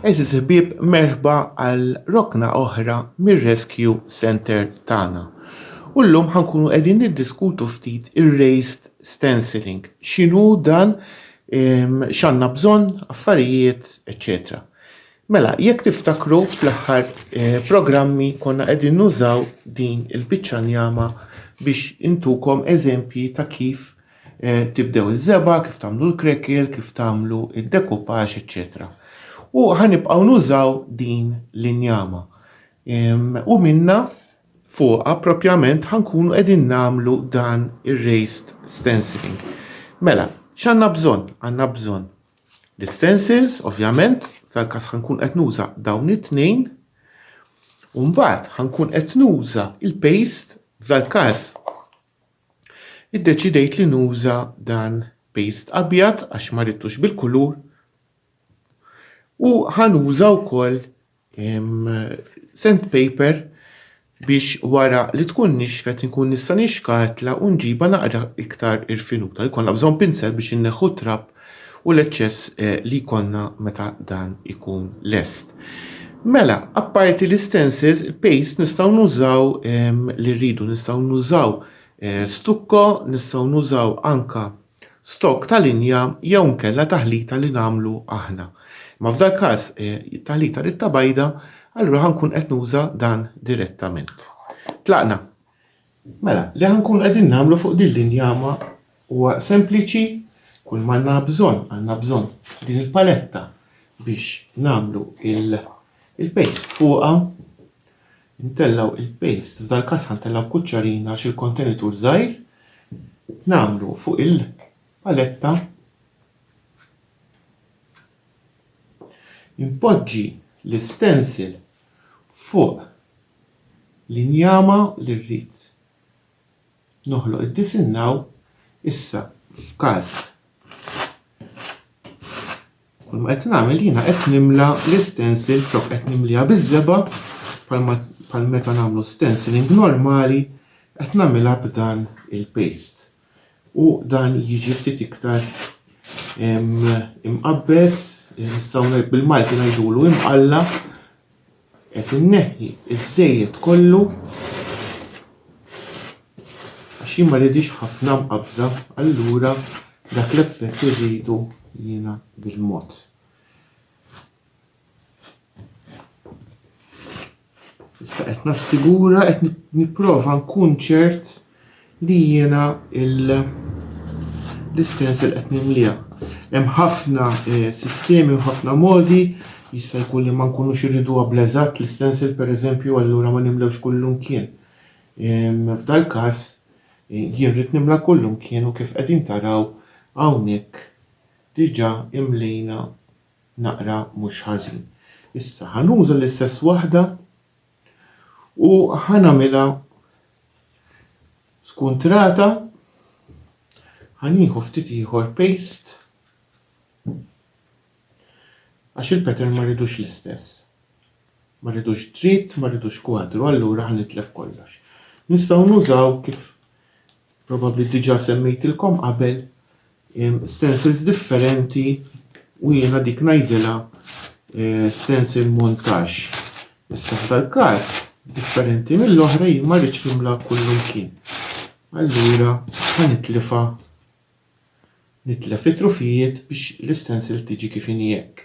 Eżiz ħbieb merħba għal rokna oħra mir-Rescue Center tagħna. U llum ħankunu qegħdin niddiskutu ftit ir-raised stenciling, x'inhu dan, x'għandna bżonn, affarijiet, eċċetera. Mela, jekk tiftakru fl-aħħar programmi konna qegħdin nużaw din il-biċċa njama biex intukom eżempji ta' kif tibdew iż-żeba, kif tagħmlu l-krekel, kif tagħmlu id-dekupaġ, eċċetera. U ħanibqgħu nużaw din l-injama. U minna fuqha propjament ħankunu qegħdin nagħmlu dan ir-raised stenciling. Mela, x'għandna bżonn? Għandna bżonn l-istensils, ovvjament, tal-każ ħankun qed nuża dawn it-tnejn, u mbagħad ħankun qed nuża il-paste f'dal-każ. Iddeċidejt li nuża dan paste abjad għax ma ridtux bil-kulur u ħanuża wkoll sandpaper biex wara li tkun nixfet inkun nista' nixkatla u nġibha naqra iktar irfinuta. Jkollna bżonn pinsel biex inneħħu t-trab u l-eċċess eh, li jkollna meta dan ikun lest. Mela, apparti l-istencils, il-paste nistgħu nużaw ehm, li rridu, nistgħu nużaw eh, stukko, nistgħu nużaw anka stokk ta' linja jew inkella taħlita li nagħmlu aħna. Imma f'dal-każ it-taħlita rridtha bajda, allura ħa nkun qed nuża dan direttament. Tlaqna? Mela, li ħa nkunu qegħdin nagħmlu fuq din l-injama huwa sempliċi, kull m'għandna bżonn, għandna bżonn din il-paletta biex nagħmlu il-paste fuqha, Intellgħu il-paste, f'dal-każ ħa ntellgħu kuċċarina għax il-kontenitur żgħir, nagħmlu fuq il-paletta, inpoġġi l-istencil fuq l-injama li rrid. noħloq id-disinnaw issa f'każ kull ma qed nagħmel jiena qed nimla l-istensil flok qed nimliha biż-żeba' bħal meta nagħmlu stenciling normali qed nagħmilha b'dan il-paste. U dan jiġi ftit iktar imqabbed, nistgħu bil-Malti ngħidulu imqalla Qed inneħħi ż-żejjed kollu għax jien ma rridhiex ħafna mqabbża, allura dak l-effett irridu jiena bil-mod. Issa qed nassigura qed nipprova nkun ċert li jiena l-istess li qed nimliha. Hemm ħafna eh, sistemi u ħafna modi jista' jkun li ma nkunux irridu bl-eżatt l-istensil pereżempju allura ma nimlewx kullum kien. F'dal-każ eh, jien rrid nimla kullum kien u kif qegħdin taraw hawnhekk diġà imlejna naqra mhux ħażin. Issa ħanuża l-istess waħda U ħa nagħmilha skuntrata, ħa nieħu ftit ieħor paste għax il-pattern ma rridux l-istess. Ma rridux dritt, ma rridux kwadru, allura ħa nitlef kollox. Nistgħu nużaw kif probabbli diġà semmejtilkom qabel stencils differenti u jiena dik ngħidilha eh, stencil montage. Issa f'dal-każ differenti mill-oħra jien ma rridx nimla kullu kien. Allura ħa nitlifa nitlef it-trufijiet biex l-istensil tiġi kif inhi hekk.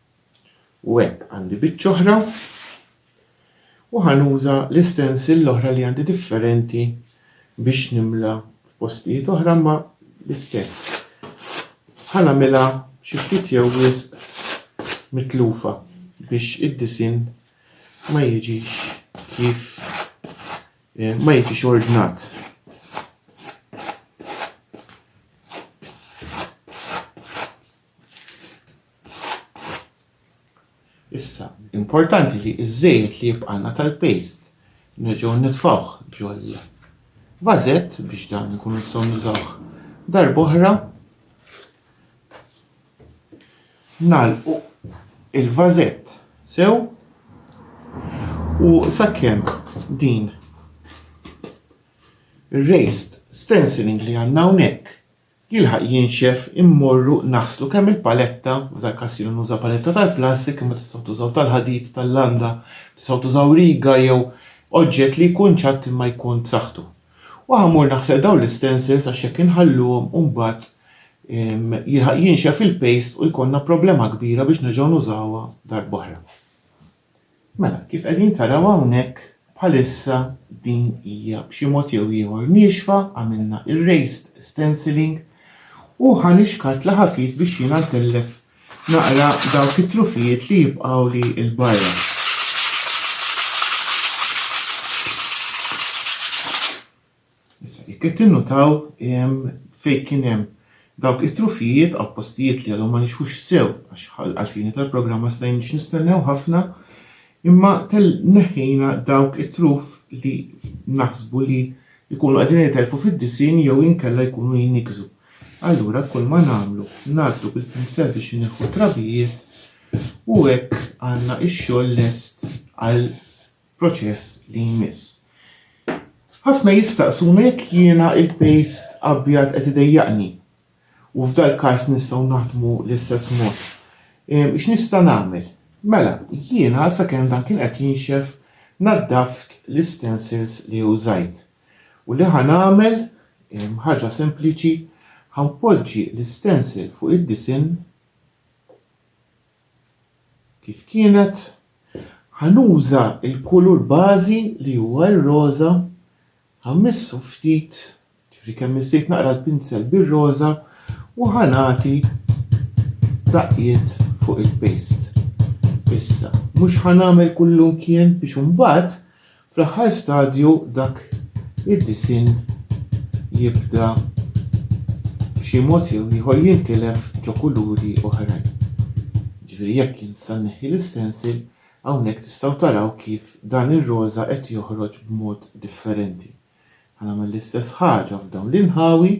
U hekk għandi biċċa oħra u ħanuża l-istensil l-oħra li għandi differenti biex nimla f'postijiet oħra ma l-istess. Ħanamilha xi ftit jew wisq mitlufa biex id-disin ma jiġix kif eh, ma jiġix ordnat. Issa, importanti li iż-żejt li jibqana tal-paste nerġgħu nitfawh ġol vażett biex dan ikun nistgħu nużawh darb'oħra. Nalqu il-vażett sew u sakemm din raised stenciling li għandna hawnhekk Jilħaq jinxef immorru naħslu kemm il-paletta, f'dal każ jiena nuża paletta tal-plastik imma tistgħu tużaw tal-ħadid, tal-landa, tistgħu tużaw riga jew oġġett li jkun ċatt imma jkun b'saħħtu. U ħa mmur naħsel dawn l-istencils għax jekk inħalluhom u mbagħad jilħaq jinxef il-paste u jkollna problema kbira biex nerġgħu nużawha darb'oħra. Mela, kif qegħdin taraw hawnhekk, bħalissa din hija b'xi mod jew ieħor niexfa, għamilna erased stenciling u ħa nixkat la ħafif biex jiena ntellef naqra dawk it-trufijiet li jibqgħuli l-barra. Issa, jekk qed tinnutaw fejn kien hemm dawk it-trufijiet għal postijiet li għadhom ma nixħux sew għax għalfini tal-programm ma stajniex nistennew ħafna, imma tel neħħejna dawk it-truf li naħsbu li jkunu qegħdin jitelfu fid-disinn jew inkella jkunu jnikżu. Allura kull ma nagħmlu ngħaddu bil-pinsel biex ineħħu trabijiet u hekk għandna x-xogħol lest għal proċess li jmiss. Ħafna jistaqsuna jekk jiena il-pejst abjad qed idejjaqni. U f'dal-każ nistgħu naħdmu l-istess mod. X'nista' nagħmel? Mela, jiena sakemm dan kien qed jinxef naddaft l-istensils li użajt. U li ħa nagħmel, ħaġa sempliċi, ħa npoġġi l-istensil fuq id-disinn, kif kienet, ħa nuża l-kulur bażi li huwa r-roża, ħa mmissu ftit, ġifieri kemm missejt naqra l-pinsel bir-roża u ħa nagħti daqqiet fuq il-paste. Issa, mhux ħa nagħmel kullumkien biex imbagħad Fl-aħħar stadju dak id-disinn jibda b'xi mod jew ieħor jintilef ġo kuluri oħrajn. Ġifieri jekk jien nista' nneħħi l-istensil, hawnhekk tistgħu taraw kif dan ir-roża qed joħroġ b'mod differenti. Ħa nagħmel l-istess ħaġa f'dawn l-inħawi.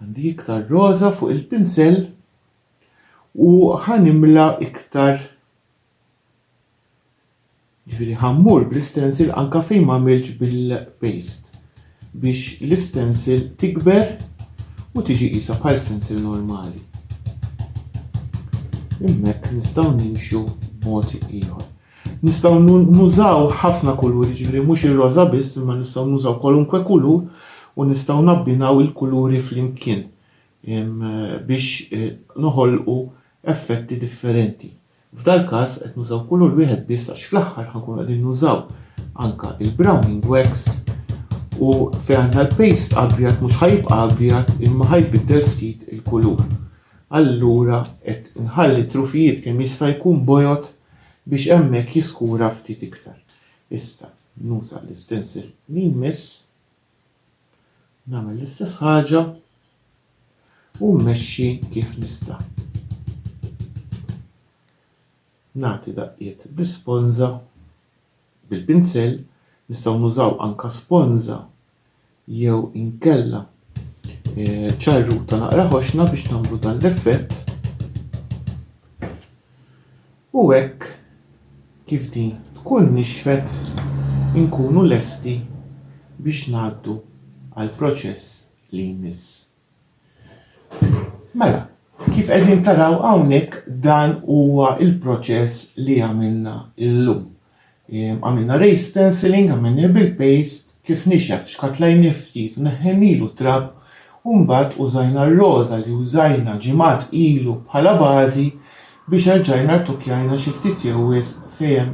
Għandi iktar roża fuq il-pinsell u ħa nimla iktar Ġifieri ħa mmur bl-istencil anke fejn m'għamiltx bil-paste biex l-istencil tikber u tiġi qisha bħal stencil normali. Hemmhekk nistgħu nimxu b'mod ieħor. Nistgħu nużaw ħafna kuluri, ġifieri mhux ir-roża biss, imma nistgħu nużaw kwalunkwe kulur u nistgħu nabbinaw il-kuluri flimkien biex eh, noħolqu effetti differenti. F'dal-każ qed nużaw kulur wieħed biss għax fl-aħħar ħa nkunu qegħdin nużaw anke il-browning wax u fejn għandna l-paste abjad mhux ħa jibqa' abjad imma ħa jbiddel ftit il-kulur. Allura qed inħalli t-trufijiet kemm jista' jkun bojod biex hemmhekk jiskura ftit iktar. Issa nuża l-istencil li jmiss. Nagħmel l-istess ħaġa u mmexxi kif nista'. Nagħti daqqiet bl-isponża, bil-pinsell, nistgħu nużaw anke sponża jew inkella eh, ċarruta naqra ħoxna biex nagħmlu dan l-effett. U hekk kif din tkun nixfet inkunu lesti biex ngħaddu għall-proċess li jmiss. Mela, kif qegħdin taraw hawnhekk dan huwa l-proċess li għamilna llum. Għamilna raised stenciling, għamilnieh bil-paste, kif nixef xkatlajnieh ftit u neħħejnielu t-trab u mbagħad użajna r-roża li użajna ġimgħat ilu bħala bażi biex erġajna rtokjajna xi ftit jew wisq fejn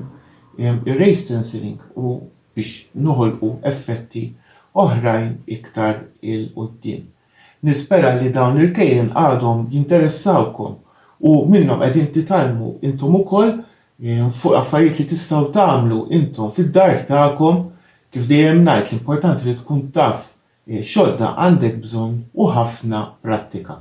hemm ir-raised stenciling u biex noħolqu effetti oħrajn iktar 'il quddiem. Nispera li dawn l-irkejjen għadhom jinteressawkom u minnhom qegħdin titgħallmu intom ukoll fuq affarijiet li tistgħu tagħmlu intom fid-dar tagħkom. Kif dejjem ngħid l-importanti li tkun taf x'għodda għandek bżonn u ħafna prattika.